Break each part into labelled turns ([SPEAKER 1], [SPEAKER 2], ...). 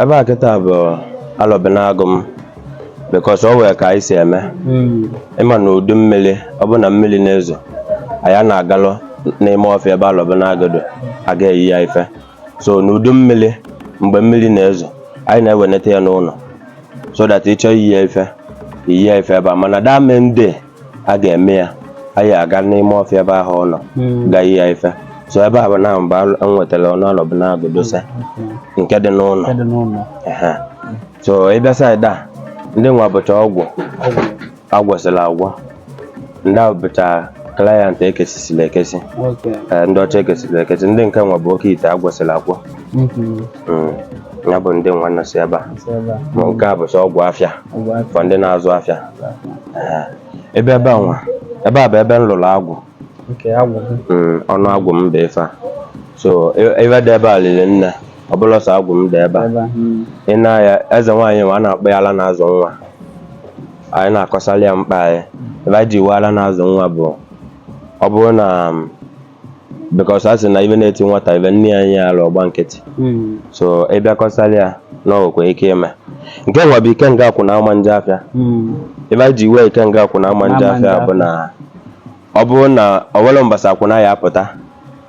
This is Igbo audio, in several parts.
[SPEAKER 1] ebe a kịta bụ alọbinagụ m because o wee ka anyị si eme ị ma na udu mmiri ọ bụ na mmiri na-ezo anyị a na-agalụ n'ime ọfịa ebe alọbinagụ dị aga eyi ya ife so n'udu mmiri mgbe mmiri na-ezo anyị na-eweneta ya n'ụnọ so that ị chọọ iyi ya ife iyi ya ife ebe a mana the main day a ga-eme ya anyị aga n'ime ọfịa ebe ahụ ọ nọ hmm. ga iyi ya ife so ebe a bụ ebe m nwetara ọnụ alọbinagụ dosa hmm. nke dị n'ụnọ so ị bịa side a ndị nwa bụcha ọgwụ a gwọsịla agwọ ndị ahụ bụcha client ekesisila ekesi ndị ọcha ekesisila ekesi ndị nke nwa bụ oke ite a gwọsịla agwọ hmm. Mm, ya bụ ndị nwa nọsi ebe a si ebe a Ma nke a bụ sọ ọgwụ afịa ọgwụ afịa for ndị na-azụ afịa Ee. ebe ebe a nwa ebe a bụ ebe m lụrụ agwụ nke agwụ gị Mm, ọnụ agwụ m bụ ife a so e- ive dị ebe a liri nne ọ bụlọ sọ agwụ m dị ebe a ebe a mm, ị nee anya eze nwaanyị m a na-akpọ ya ala na-azụ nwa anyị na-akọsali ya mkpa anyị ebe anyị ji wee ala na-azụ nwa bụ ọ bụrụ na um, because a sị na ive na-eti nwata ive nne ya nye ya ala ọ gba nkịtị Mm. so ị bịa kọsali ya na o wekwa ike ime nke nwa bụ ikenga akwụna ama nje afịa Mm. ebe anyị ji wee ikenga akwụna ama nje Ama nje afịa bụ afịa. na ọ bụrụ na o welu mbọsị akwụna ya apụta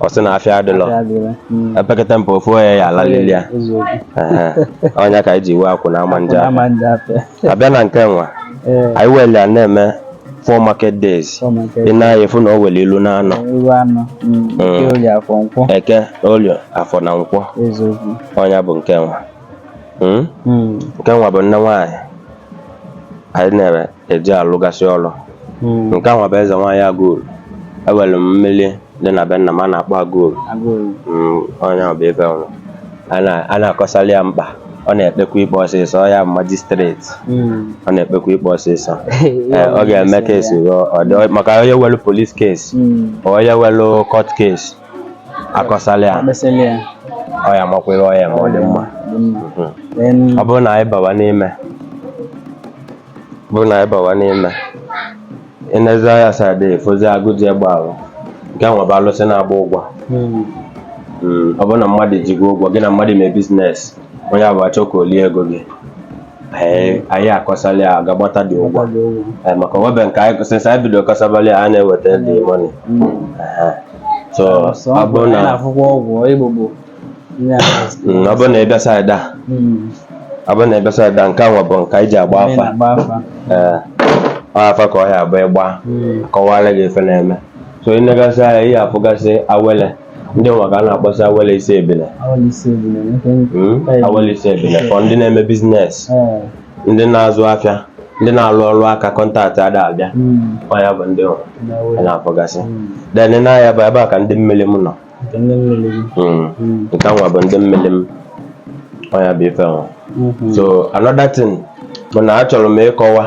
[SPEAKER 1] ọ sị na afịa adịlọ Ya dịrị. Mm. epekata mpe ofu onye ya alalili ya Eziokwu. Ehe. ọ nya ka anyị ji wee akwụna ama nje Akwụna afịa ama nje afịa. a bịa na nke nwa ee anyị weli ya na-eme four market days ọ maka ị nee anya ị fụ na o weli ilu na anọ iru anọ mm, eke olie afọ nkwọ eke olie afọ na nkwọ eziokwu ọ nya bụ nke nwa Mm? Mm, nke nwa bụ nne nwaanyị anyị nwere e ji alụgasị ọrụ mm. nke nwa bụ eze nwaanyị agụoru e were m mmiri dị na be nna m a na-akpọ agụoru agụoru Mm, ọ nya bụ ife ọrụ a na- a na-akọsali ya mkpa ọ na-ekpekwa ikpe ọsịsọ ọ ya magistrate Mm. ọ na-ekpekwa ikpe ọsịsọ Ee, ọ ga-eme case ruo ọ dị- maka onye welu police case Mm. onye welu court case a kọsali ya Akpesịla ya ọ ya amakwa ihe ọ ya-eme ọ dị mma dị mma Mhm. Then, ọ bụrụ na anyị bawa n'ime bụ na anyị bawa n'ime ị nezie anya side ị fụzi agụ ji egbe ahụ nke nwa bụ alụsị na-agba ụgwọ Mm, ọ bụrụ na mmadụ ji gị ụgwọ gị na mmadụ mee business onye ahụ achọ ka o lie ego gị anyị anyị akọsala ya aga gbata the ụgwọ Eh, maka webe nke anyị since anyị bido kọsabali a na-eweta the money so ọ bụrụ na akwụkwọ ọgwụ igbo bụ Mm, ọ bụrụ na ị bịa saịdị a Mm. ọ bụrụ na ị bịa side a nke a nwa bụ nke anyị ji agba Onye afa na-agba afa. ee ọ afa ka ọ ya abụ ịgba Mm. kọwara gị ife na-eme so ị negasị anya ị ya afụgasị awele ndị nwa ka a na-akpọsị awele isi ebile Awele isi ebule, nke m- Mm, Ee. awele isi ebile for ndị na-eme business Ee. ndị na-azụ afịa ndị na-alụ ọrụ aka contact ada abịa Mm. ọ ya bụ ndị nwa Na a awele. na-afụgasị Mm. then nya bụ ebe a ka ndị mmiri m nọ hmm. nke a nwa bụ ndị mmiri m ọ ya bụ ife nwa hmm. so another thing bụ na achọrọ m ịkọwa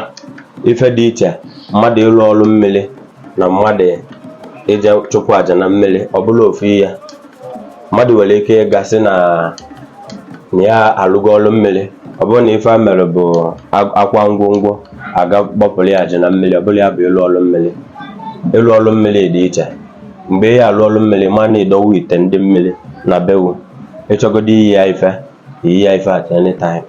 [SPEAKER 1] ife dị iche mmadụ ịlụ ọrụ mmiri na mmadụ ịje chụpụ aja na mmiri ọ bụrọ ofu ihe mmadụ nwere ike ịga sị na nya alụgo ọrụ mmiri ọ bụrụ na ife a mere bụ a kwa ngwongwo a ga gbapụrụ ya aja na mmiri ọ bụrọ ya bụ ịlụ ọrụ mmiri ịlụ ọrụ mmiri dị iche mgbe ị ya alụ ọrụ mmiri ma na ị dọwa ite ndị mmiri na be wụ ị chọgodu inye ya ife inye ya ife at any time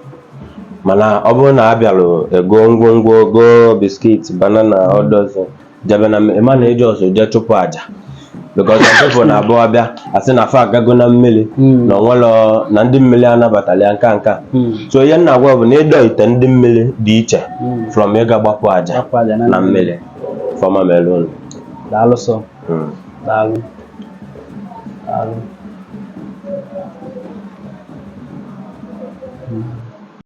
[SPEAKER 1] mana ọ bụrụ na a bịalụ ego ngwongwo go biscuit banana all those jebe na mmiri ma na eji ọsọ jee chụpụ aja because some people na-abụ abịa asị na fa agago na mmiri na o nwerọ na ndị mmiri anabatarọ ya nka nka so ihe m na-agwa bụ na ịdọ ite ndị mmiri dị iche from ịga gbapụ aja na mmiri ife ọma mere unu daalụ
[SPEAKER 2] sọ Mm. daalụ daalụ